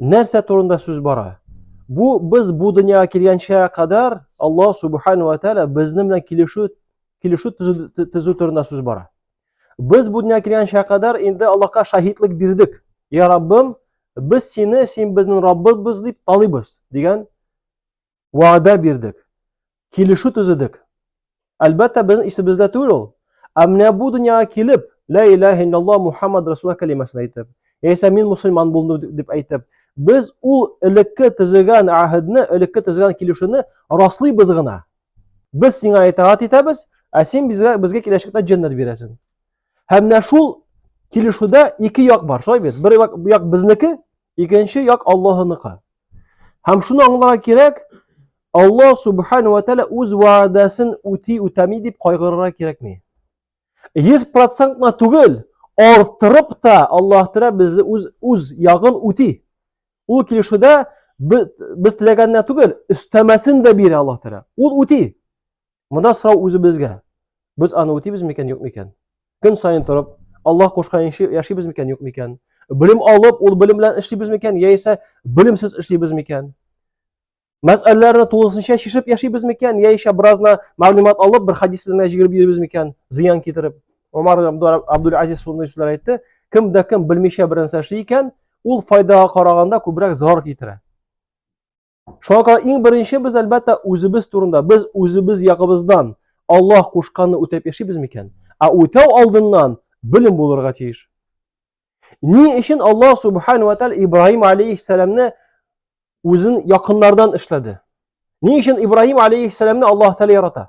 Нәрсә турында сүз бара? Бу без бу дөньяга килгәнчә кадәр Аллаһ субхану ва тааля безнең белән килешү килешү төзү турында сүз бара. Без бу дөньяга килгәнчә кадәр инде Аллаһка шаһитлек бирдек. Я Раббым, без сине, син безнең Раббыбыз дип таныйбыз дигән вәгъдә бирдек, килешү төзедек. Әлбәттә, безнең исебездә түгел ул. Ә менә бу дөньяга килеп, лә илаһ иллаллаһ Мухаммад Расулла кәлимәсен әйтеп, яисә мин мусульман булдым дип әйтеп, без ул элекке төзегән әһедне, элекке төзегән килешүне раслыйбыз гына. Без сиңа итаат итәбез, ә син безгә безгә киләчәктә җәннәт бирәсең. Һәм менә шул килешүдә ике як бар, шулай бит? Бер як, як безнеке, Икенче як Аллаһыныкы. Һәм шуны аңларга кирәк, Аллаһ субхану ва тәала үз вәгъдәсен үти үтәми дип кайгырырга кирәкми. 100% на түгел, артырып та Аллаһ тәала безне үз үз ягын үти. Ул килешүдә без теләгәнне түгел, өстәмәсен дә бирә Аллаһ тәала. Ул үти. Монда сорау үзебезгә. Без аны үтибез микән, юк микән? Көн сайын торып, Аллаһ кушканча яшибез микән, юк микән? Белем алып, ул белем белән эшлибез микән, яисә белемсез эшлибез микән? Мәсьәләләрне тулысынча чишеп яшибез микән, яисә беразна мәгълүмат алып, бер хадис белән җигереп йөрибез микән, зыян китереп? Умар Абдул Азиз шундый сүзләр әйтте. Кем дә кем белмичә бернәрсә эшли икән, ул файдага караганда күбрәк зарар китерә. Шуңа күрә иң беренче без әлбәттә үзебез турында, без үзебез ягыбыздан Аллаһ кушканны үтәп яшибез микән? Ә үтәү алдыннан белем булырга тиеш. Ни өчен Аллаһ субхану ва тааля Ибраһим алейхиссаламны үзен якыннардан эшләде? Ни өчен Ибраһим алейхиссаламны Аллаһ тааля ярата?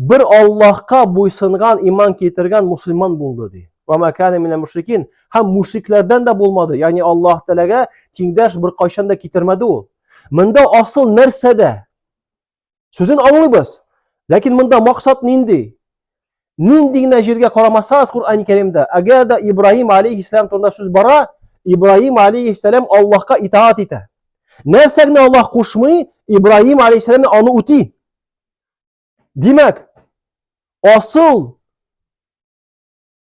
Бер Аллаһка буйсынган, иман китергән мусульман булды ди. Ва ма кана минәл мушрикин. Һәм мушрикләрдән дә булмады. Ягъни Аллаһ Тәгаләгә тиңдәш бер кайчан да китермәде ул. Монда асыл нәрсәдә? Сүзен аңлыйбыз. Ләкин монда максат нинди? Нинди генә җиргә карамасагыз Коръән Кәримдә, әгәр дә Ибраһим алейһиссәлам турында сүз бара, Ибраһим алейһиссәлам Аллаһка итаат итә. Нәрсә генә Аллаһ кушмый, Ибраһим алейһиссәлам аны үти. Димәк, асыл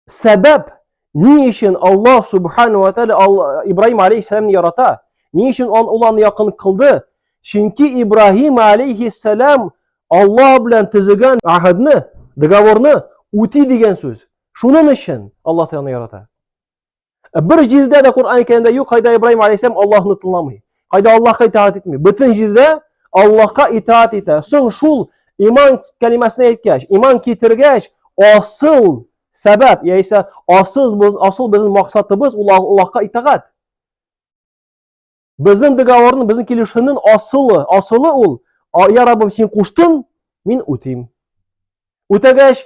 сәбәп ни өчен Аллаһ субхану ва тааля Ибраһим алейхиссаламны ярата? Ни өчен он ул аны якын кылды? Чөнки Ибраһим алейхиссалам Аллаһ белән төзегән ахадны, договорны үти дигән сүз. Шуның өчен Аллаһ Тәгалә ярата. Ә бер җирдә дә Коръән кәрәмдә юк, кайда Ибраһим алейһиссәлам Аллаһны тыңламый. Кайда Аллаһка итаат итми. Бөтен җирдә Аллаһка итаат итә. Соң шул иман кәлимәсен әйткәч, иман китергәч, асыл сәбәп, яисә асыл без, асыл безнең максатыбыз ул Аллаһка итаат. Безнең договорны, безнең килешүнең асылы, асылы ул, я Раббым, син куштың, мин үтим. Үтәгәч,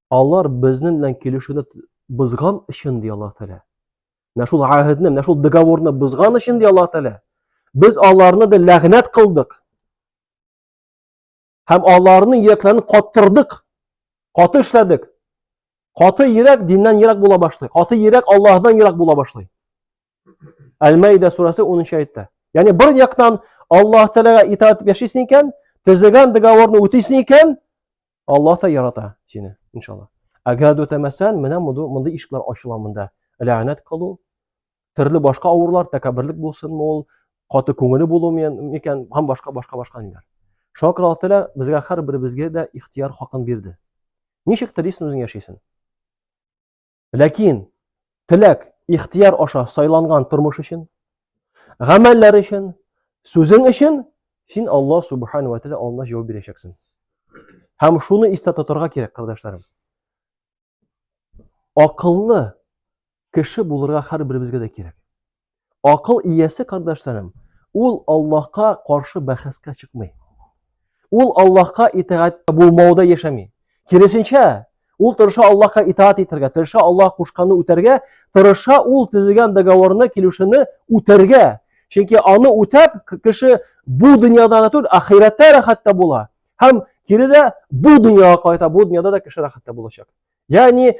алар безнең белән килешүне бозган өчен ди Аллаһ Тәгалә. Менә шул гәһедне, менә шул договорны бозган өчен ди Аллаһ Тәгалә. Без аларны да ләгънәт кылдык. Һәм аларны йөрәкләрен каттырдык. Каты эшләдек. Каты йөрәк диннән ерак була башлый. Каты йөрәк Аллаһдан ерак була башлый. Әл-Мәйдә сүрәсе 10 аятта. Ягъни бер яктан Аллаһ Тәгаләгә итаат итеп яшисең икән, төзегән договорны үтисең икән, Аллаһ та ярата сине, иншалла. Әгәр дә үтәмәсән, менә мондый ишекләр ачыла монда. Ләгънәт кылу, төрле башка авырлар, тәкәбберлек булсынмы ул, каты күңеле булу микән, һәм башка башка башка ниләр. Шуңа күрә Аллаһ Тәгалә безгә һәр беребезгә дә ихтияр хакын бирде. Ничек телисен үзең яшисен. Ләкин теләк, ихтияр аша сайланган тормыш өчен, гамәлләр өчен, сүзең өчен син Аллаһ субхана ва тәгалә алдында җавап бирәчәксең. Һәм шуны истә тотарга кирәк, кардәшләрем. Акыллы кеше булырга һәрберебезгә дә кирәк. Акыл иясе, кардәшләрем, ул Аллаһка каршы бәхәскә чыкмый. Ул Аллаһка итагатьтә булмауда яшәми. Киресенчә, ул тырыша Аллаһка итаат итәргә, тырыша Аллаһ кушканны үтәргә, тырыша ул төзегән договорны, килешүне үтәргә. Чөнки аны үтәп, кеше бу дөньяда гына түгел, ахирәттә рәхәттә була. Һәм кире дә бу дөньяга кайта, бу дөньяда да кеше рәхәттә булачак. Ягъни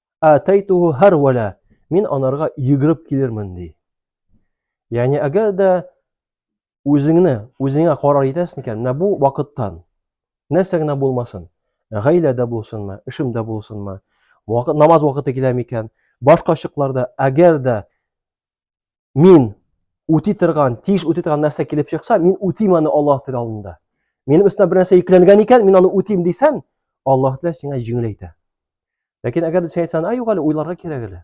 атайтуху һәрвәлә, мин анарга йөгереп килермен, ди. Ягъни, әгәр дә үзеңне, үзеңә карар итәсең икән, менә бу вакыттан, нәрсә генә булмасын, гаиләдә булсынмы, эшемдә булсынмы, вакыт, намаз вакыты килә микән, башка чакларда, әгәр дә мин үти торган, тиеш үти торган нәрсә килеп чыкса, мин үтим аны Аллаһ Тәгалә алдында. Минем өстенә бер нәрсә йөкләнгән икән, мин аны үтим дисән, Аллаһ Тәгалә сиңа җиңеләйтә. Ләкин әгәр син әйтсәң, "Ай, юк әле, уйларга кирәк әле."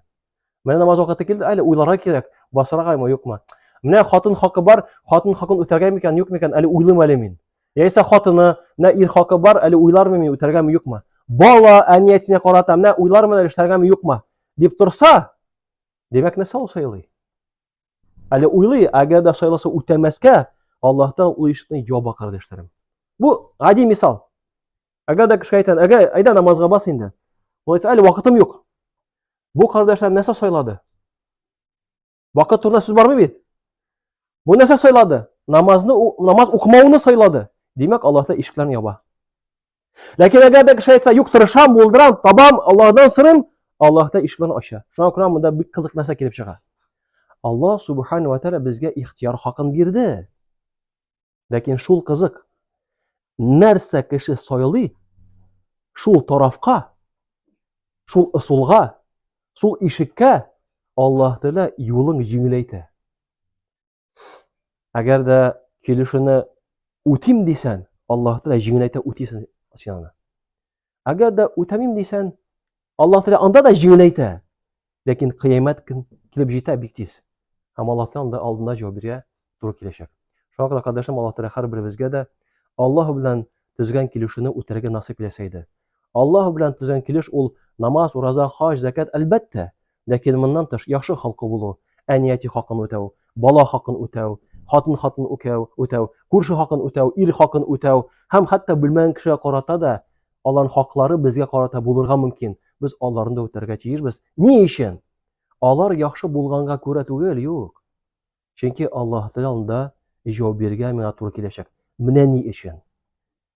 Менә намаз вакыты килде, әле уйларга кирәк, басаргамы, юкмы? Менә хатын хакы бар, хатын хакын үтәргәме икән, юкмы икән, әле уйлыйм әле мин. Яисә хатыны, менә ир хакы бар, әле уйлармы мин үтәргәме, юкмы? Бала әниятенә карата, менә уйлармы әле эшләргәме, юкмы? дип торса, Димәк, нәрсә ул сайлый? Әле уйлый, әгәр дә сайласа үтәмәскә, Аллаһта ул ишекне яба кардәшләрем. Бу гади мисал. Әгәр дә кешегә әйтсәң, әгә, әйдә намазга бас инде. Ул әйтсә, әле вакытым юк. Бу кардәшләр нәрсә сайлады? Вакыт турында сүз бармы бит? Бу нәрсә сайлады? Намазны намаз укымауны сайлады. Димәк, Аллаһта ишекләрне яба. Ләкин әгәр дә кеше әйтсә, юк, тырышам, булдырам, табам, Аллаһдан сырым, Аллаһ та ишекләрен ача. Шуңа күрә монда бик кызык нәрсә килеп чыга. Аллаһ субхана ва тәгалә безгә ихтияр хакын бирде. Ләкин шул кызык. Нәрсә кеше сайлый, шул тарафка, шул ысулга, шул ишеккә Аллаһ Тәгалә юлын җиңеләйтә. Әгәр дә килешүне үтим дисән, Аллаһ Тәгалә җиңеләйтә үтисен син аны. Әгәр дә үтәмим дисән, Аллаһ Тәгалә анда да җиңеләйтә. Ләкин кыямәт көн килеп җитә бик тиз. Һәм Аллаһ Тәгалә анда алдына җавап бирә туры киләчәк. Шуңа күрә кардәшем Аллаһ Тәгалә һәрберебезгә дә Аллаһ белән төзегән килешүне үтәргә насыйп итсә иде. Аллаһ белән төзегән килеш ул намаз, ураза, хаҗ, закат, әлбәттә. Ләкин моннан тыш яхшы холкы булу, әни-әти хакын үтәү, бала хакын үтәү, хатын хатын үкәү, үтәү, күрше хакын үтәү, ир хакын үтәү һәм хәтта белмәгән кешегә карата да аларның хаклары безгә карата булырга мөмкин. Без аларны да үтәргә тиешбез. Ни өчен? Алар яхшы булганга күрә түгел, юк. Чөнки Аллаһ Тәгалә анда җавап бирергә миңа туры киләчәк. Менә ни өчен.